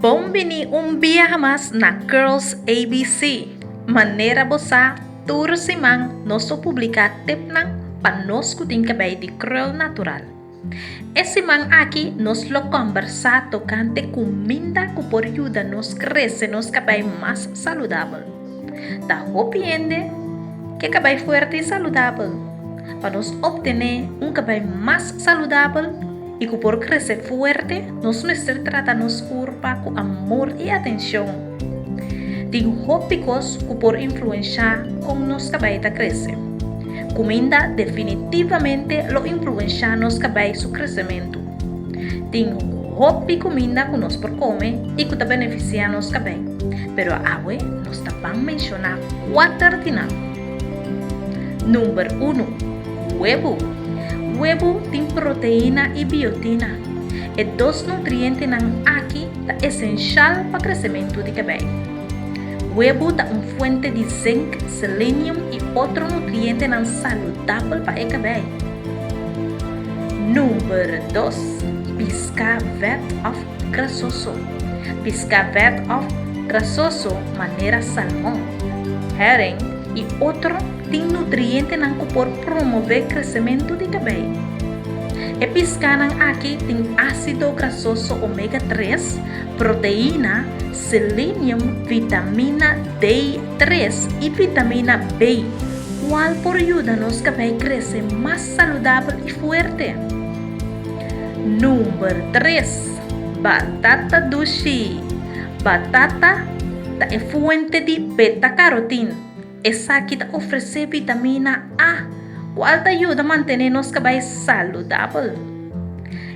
Bon bini un biaha mas na Curls ABC! Manera bo sa, tur siman nos lo publica tipnan pa nos cu tin cabei di krul natural. E siman aki nos lo combersa tocante cuminda cu por yuda nos crece nos cabei mas saludabel. Ta hopi hende ke cabei fuerte y saludabel. Pa nos obtene un cabei mas saludabel. I ku por krese fuerte, nos mester trata nos kurpa ku amor i atenshon. Tin hopi kos ku por influenshá kon nos kabei ta krese. Kuminda definitivamente lo influenshá nos kabei su kresementu. Tin hopi kuminda ku nos por kome i ku ta benefisiá nos kabei, pero awe nos ta ban menshoná kuater di nan. Number uno, Huebu. Huebu tin proteina i biotina, e dos nutrientenan aki ta esenshal pa kresementu di kabei. Huebu ta un fuente di zinc, selenium i otro nutrientenan saludabel pa e kabei. Number dos, Piská, vet òf Grasoso, piská vèt òf grasoso manera salmon, hèring i otro tin nutrientenan ku por promové kresementu di kabei. E piskánan aki tin ásido grasoso omega tres, proteína, selenium, vitamina D tres i vitamina B, kual por yuda nos kabei krese mas saludabel i fuerte. Number tres, Batata dushi. Batata ta e fuente di beta-carotin. Esaki ta ofresé vitamina A, cual ta yuda mantené nos cabai saludabel.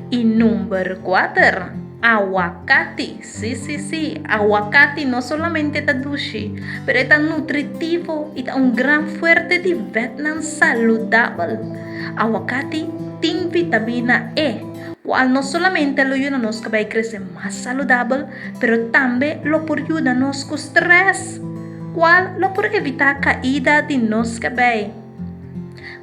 Y number cuater, Aguacati. Sí, sí, sí, aguacati no solamente ta dushi, pero e ta nutritivo y ta un gran fuerte di vetnan saludabel. Aguacati tin vitamina E, cual no solamente lo yuda nos cabei crece mas saludabel, pero tambe lo por yuda nos cu stress, cual lo por evita caida di nos cabei.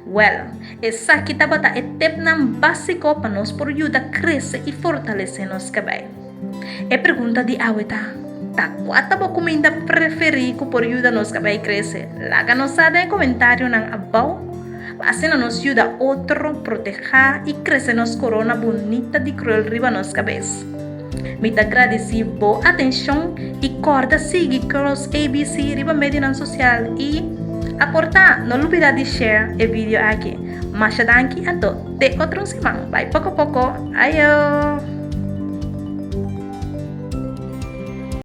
Well, esaki tabata e tipnan basico pa nos por yuda crece y fortalece nos cabei. E pregunta di awe ta, Ta kua ta bo kuminda preferí ku por yuda nos ka bai krese? Laga nos sa den e komentarionan abou pa asina nos yuda otro protehá i krese nos korona bunita di kruel riba nos kabes. Mi ta gradisí bo atenshon i kòrda sigui Girls ABC riba medionan sosial i, aportá, no lubidá di share e video aki. Masha danki a tot! Te otro siman, bai poko poko. Ayo!